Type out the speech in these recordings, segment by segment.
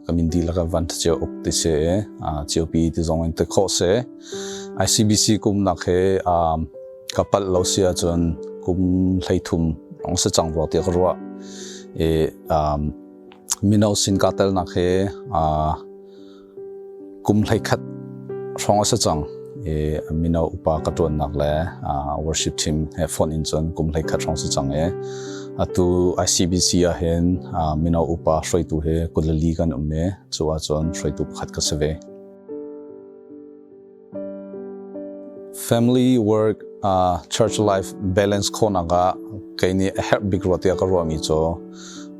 amin di laka van thachia uk ti se chio pi ti zong in te kho se ICBC kum nak he kapat lo sia chun kum hlei thum rong se chang ro ti ka ruwa e mino sin ka telnak he kum hleikhat hrawng a si cang i mino upa ka ṭuannak le worship team he phone in cun kum hleikhat hrawng si cang i atu ICBC ahhin mino upa hruaitu he kulali kan um i cu ahcun hruaitu pakhat ka si ve Family work uh church life balance khonak ah kei nih a herh bik ruah tiah ka ruahmi cu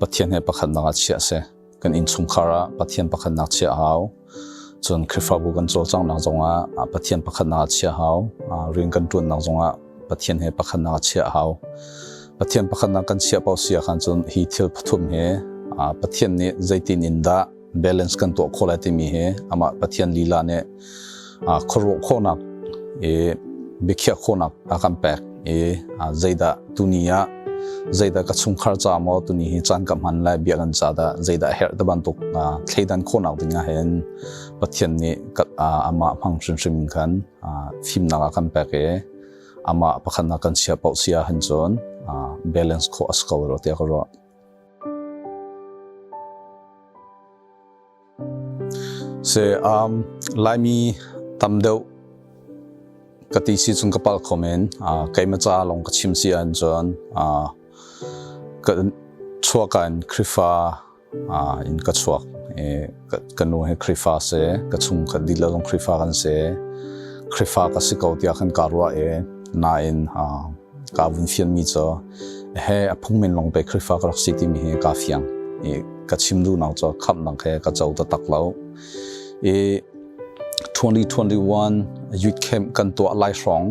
Pathian he pakhatnak ah chiah si. Kan innchungkhar ah Pathian pakhatnak chiah hau. Cun Khrihfabu kan cawlcanghnak zongah ah Pathian pakhatnak ah chiah hau. Uh, rian kan ṭuannak zongah Pathian he pakhatnak ah chiah hau. Pathian pakhatnak kan chiah paoh si ahkhan cun hi thil pathum hi uh, Pathian nih zeitin in dah balance kan tuah khawh lai timi hi amah Pathian lila nih khuaruah khawhnak i biakhiah khawhnak a kan pek i zeidah tuni ah zeidah ka chungkhar ca maw tuni hi caan ka hman lai bia kan ca dah zeidah herh te bantuk thleidan khawhnak dingah hin Pathian nih amah hmang hrimhrim khan fimnak a kan pek i amah pakhat nak kan chia pauh sia han cun balance kho as ko ro te ka ro Se um laimi tam deuh ka ti si chung ka pal khomen uh kaimacha long ka chim si an chuan uh ka chuakan krifa uh in ka chuak e ka nu he krifa se ka chung ka dil long krifa kan se krifa ka si ko tia kan karwa e na in uh kaa vun fianmi cu he a phungmen lawng pe Khrihfa ka rak si timi hi kaa fiang i ka chim duhnak cu khamnak he ka co taktak lo i 2021 youth camp kan tuah lai hrong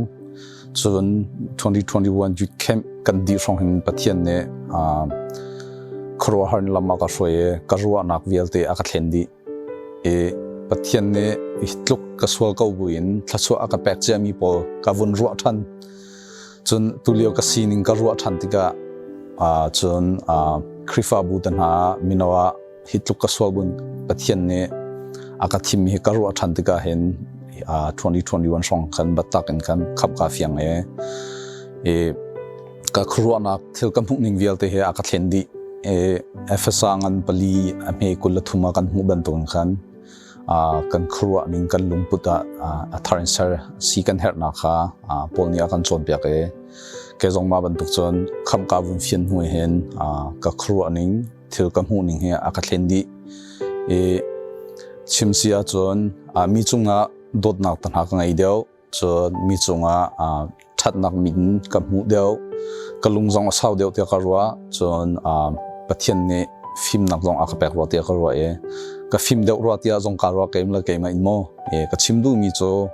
cun 2021 youth camp kan di hrong hin pathian nih khuaruahhar in lam a ka hruai i ka ruahnak vialte a ka thlen dih Pathian nih tluk ka sual ko buin thluachuah a ka pek ciami pawl ka vun ruah ṭhan cun tulio ka sining ka ruah ṭhan tikah cun Khrihfabu te hna mino ah hi tluk ka sual buin Pathian nih a ka thim hi ka ruah ṭhan tikah hin 2021 hrawng khan batak in khan khap ka fiang e ka khuaruahnak thil ka hmuh ning vialte he a ka thlen dih e efesa ngan pali a hme kul la thuma kan hmuh bantukin khan kan khuaruah ning kan lungput ah a thar in ser si kan herhnak kha paul nih a kan cawnpiak e ke zong ma bantuk cun khamka vun fian hnuai hen ka khuaruah ning thil ka hmuh ning he a ka thlen dih e chim sia cun mi cungah dawtnak tanha ka ngei deuh Cun mi cungah ṭhatnak min ka hmuh deuh. Ka lung zong a sau deuh tiah ka ruah. Cun Pathian nih fimnak zong a ka pek rua tiah ka ruah i ka fim deuh rua tiah zong kaa ruah keim le keimah in maw ka chim duhmi cu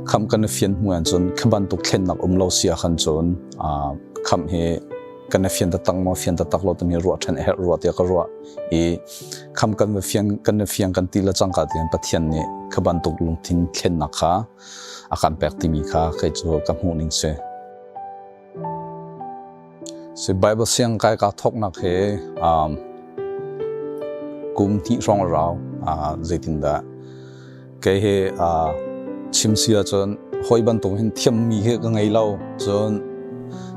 kham kan i fian hnu an cun khi bantuk thlennak um lo sia khan cun kham hi kan i fian tatang maw fian tatak lo timi ruah ṭhan a herh rua tiah ka ruah i kham kan va fiang kan va fiang kan ti le cang ka tian pathian nih kha bantuk lungthin thlennak kha a kan pek timi kha kai cu ka hmuh ning se si bible siang kai ka thok nak he um kum hnih hrong rau a zeitin da kei he a chim sia chun hoi bantung hin thiam mi he ka ngei lo chun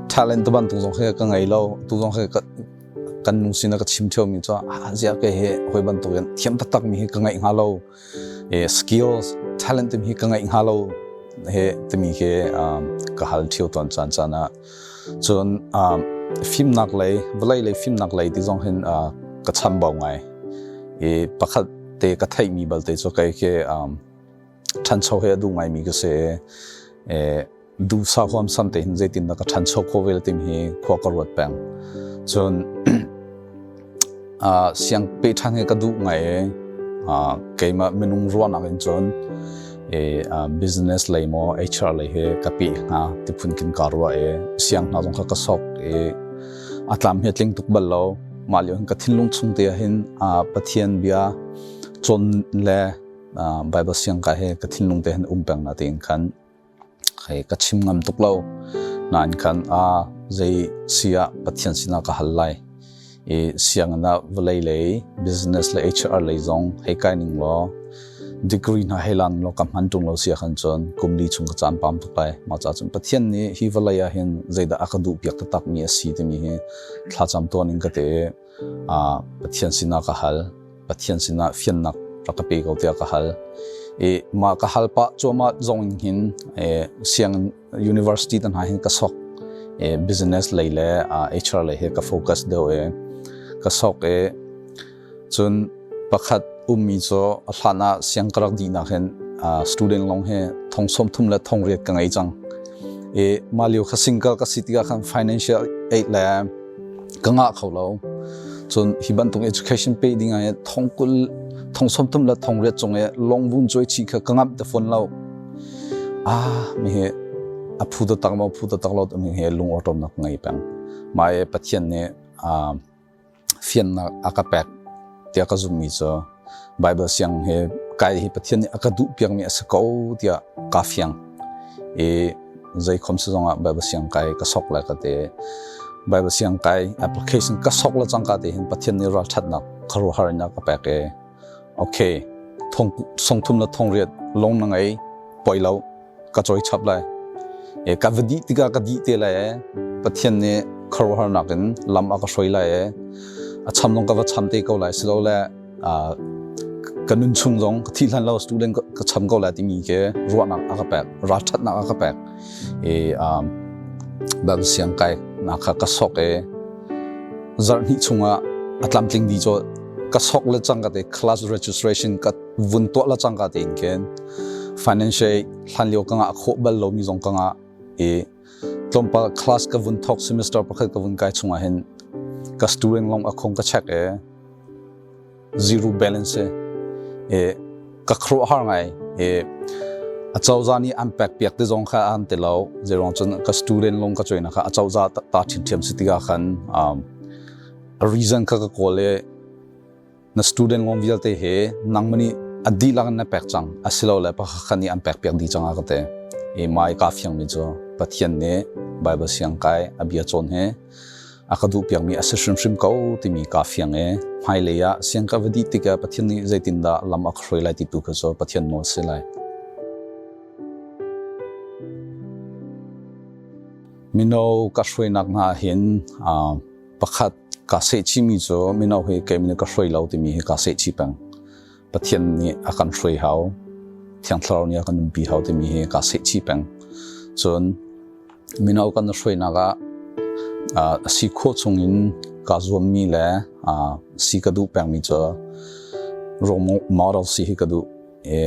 talent ban tung zong he ka ngei lo tu zong he kan lung sin a ka chim ṭheomi cu ah ziah ke hi hoi bantukin thiam taktakmi hi ka ngeih hnga lo skills talent timi hi ka ngeih hnga lo he timi khi ka hal ṭhio ton caan caan ah cun fimnak lei vawlei lei fimnak lei ti zong hin ka chambau ngai i pakhat te ka theihmi balte cu kai khi ṭhancho he a duh ngaimi ka si duhsah huam san te hin zeitin dah ka ṭhancho kho vel timi hi khua ka ruat peng cun uh, siang pe ṭhan hi ka duh ngai e uh, keimah minung ruahnak in cun e uh, business lei mo HR lei he ka pe nga ti phun kin ka ruwa e siang hna zong kha ka sok e atlam hi tling tuk bal lo ma liu hin ka thinlung chung te hin uh, pathian bia chon le uh, bible siang ka he ka thinlung te hin um peng na te in khan Hei ka chim ngam tuk lo. Nain kan ah zei si ah Pathian sinah ka hal lai i sianginn ah vawlei lei business le HR lei zong hei kai ning law degree hna hei lan law ka hman ṭung lo si ahkhan cun kum li chung ka caan pam tuk lai. Mah cahcun Pathian nih hi vawlei ah hin zeidah a ka duhpiak taktakmi a si timi hi thlacam tuan in ka te. Pathian sinah ka hal. Pathian sinah fiannak rak ka pe ko tiah ka hal. I mah ka hal pah cuahmah zong in hin siang university tan ha hin ka sok business lei le HR lei he ka focus deuh e ka sok e cun pakhat ummi cu a hlan ah siang ka rak di nak hin student long he thong som thum le thong riat ka ngei cang i mah lio kha single ka si tiga khan financial aid le ka ngah kho lo cun hi bantuk education pe ding ai thong kul thong somtum la thong riat cung e long bun choi chi kha ka ngam te phon lo a mi he a phu to tak ma phu to tak lo mi he lung autom nak ngai pang mai pathian ne a fian nak aka pek tia ka zum mi cho Bible siang he kai hi Pathian nih a ka duh piakmi a si ko tiah ka fiang i zei khom si zongah Bible siang kai ka sok le ka te Bible siang kai application ka sok le cangka te hin Pathian nih ralthatnak kharuharnak ka pek e okay thong song thum le thong riat long na ngei poi lo ka cawi chap lai e ka va dih tikah ka dih te lai e pathian nih khuaruahharnak in lam a ka hruai lai e a cham zong ka va cham te ko lai si lo le ka nun chung zong ka thi hlan lo student ka cham ko lai timi ke ruahnak a ka pek ralthatnak a ka pek e bang siang kai na kha ka sok e zarh hnih chungah a tlamtling di cho ka sok le chang ka te class registration ka vun tuah la cangka te in khin financial hlan lio ka nga kho bal lomi zong ka nga i tlawmpal class ka vun thok semester pakhat ka vun kai chunga hin ka student long akhong ka check e zero balance e ka khro har ngai e achauza ni an pek piak te zong kha an te lo zerong chun ka student long ka choina kha achauza ta thin thiam sitiga khan um reason kha ka kole na student kong vialte he nangmah a dihlak in na pek cang asilole pakhat nih an pek piak dih cang a ka te i mai ka fiangmi cu pathian nih bible siang kai a bia cawn he a ka duh piakmi a si hrimhrim ko timi ka fiang e hmailei ah siang ka va dih tik ah pathian nih zeitindah lam a khroi lai ti tu kha cu pathian nawl si lai mino ka hruainak hna hin pakhat ka sehchih mi cu mino hi keimine ka hruai lo timi hi ka sehchih peng pathian nih a kan hruai hau thiangthlarau nih a kan umpi hau timi hi ka sehchih peng cun mino kan hruainak ah si kho chung in ka zuam mi le si ka duh peng mi cu role model si hi ka duh i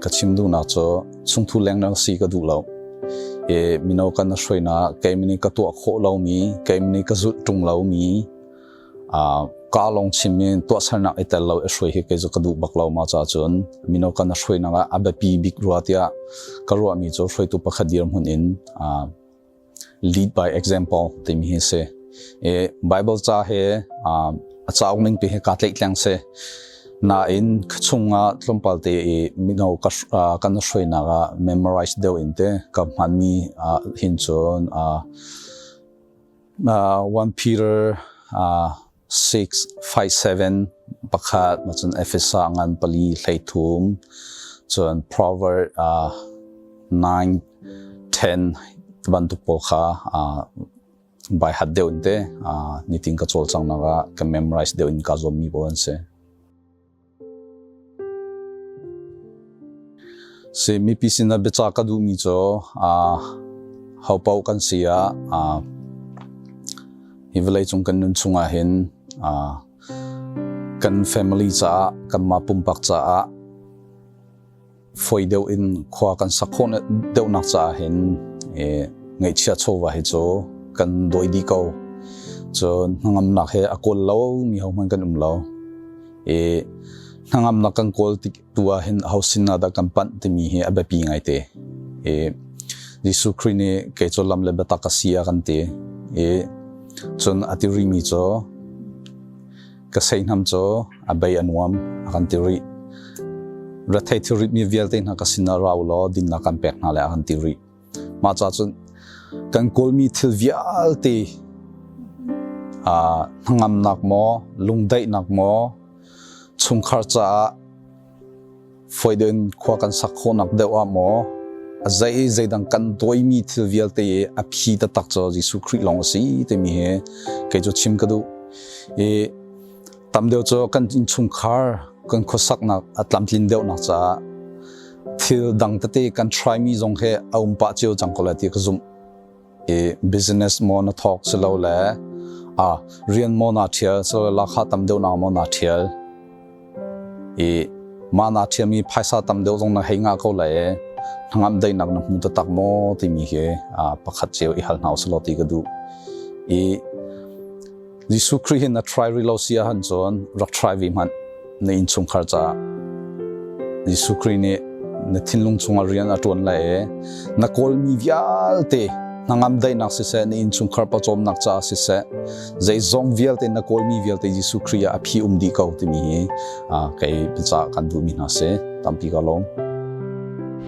ka chim duhnak cu chungthu lengmang si ka duh lo i mino kan na hruainak keimah nih ka tuah khawh lomi keimah nih ka zulh ṭung lomi ka lawng chimmi tuahsernak i tel lo i hruai hi kei cu ka duh bak lo ma ca cun mino kan na hruainak ah a biapi bik rua tiah ka ruahmi cu hruaitu pakhat dirhmun in lead by example timi hi si i bible ca he a cauk ning pi hi ka tleik tleng si nain chungah tlawmpal te i mino kan hruainak ah memorize deuh in te ka hman mi hin cun 1 Peter 6, 5, 7, pakhat macun Efesa ngan pali hleithum cun Proverb uh, 9, 10 bantuk pawl kha uh, bai hat deuh te uh, nitin ka chol chang naga ka memorize deuh in ka zom mi bo an se. Si mipi sinah biacah ka duhmi cu hopaoh kan si ah hi vawleicung kan nun chungah hin kan family caah kanmah pumpak caah foi deuh in khua kan sak khawh deuhnak caah hin e, ngaihchia chawva hi cu kan dawi di ko cun hnangamnak he a kawl lo mi ho hmanh kan um lo e hnangamnak kan kawl tik tua hin ho sin ah dah kan panh timi hi a biapi ngai te e Jesuh Christ nih ke cu lam le biatak a si a kan ti i cun a ti ri mi cu ka seihnam cu a bei a nuam a kan ti rih retheih thilrit mi vialte hna ka sinah rau law dinnak kan pek hna le a kan ti rih mah ca cun kan kawlmi thil vialte a hnangamnak maw lungdaihnak maw chungkhar caah Foiden khua kan sak khawhnak deuh ah maw a zei zeidang kan tuaimi thil vialte a phi taktak cu Jesuh Khrih lawng a si timi hi kei cu chim ka duh i tamdeuh cu kan innchungkhar kan khuasaknak a tlamtlin deuhnak caah thil dang tete kan try mi zong he a um pah cio cang ko le ti ka zumh i business maw na thawk silo le a rian maw na thial so lakha tam deuh na maw na thial i ma na thiami phaisa tam deuh zong na hei nga ko le hnangam dei nak na hmu ta tak maw ti mi hi a pakhat cheu i hal hau slo ti ka du i Jesuh Khrih hin a try rih lo si ahcun cun rak try ve hmanh na innchungkhar caah Jesuh Khrih nih na thinlung chungah rian a ṭuan lai i na kawlmi vialte na ngamdaihnak siseh na innchungkhar pawcawmnak caah siseh zeizong vialte na kawlmi vialte Jesuh Khrih ah a phi um dih ko timi hi kei biacah kan duhmi hna si tampi ka lawm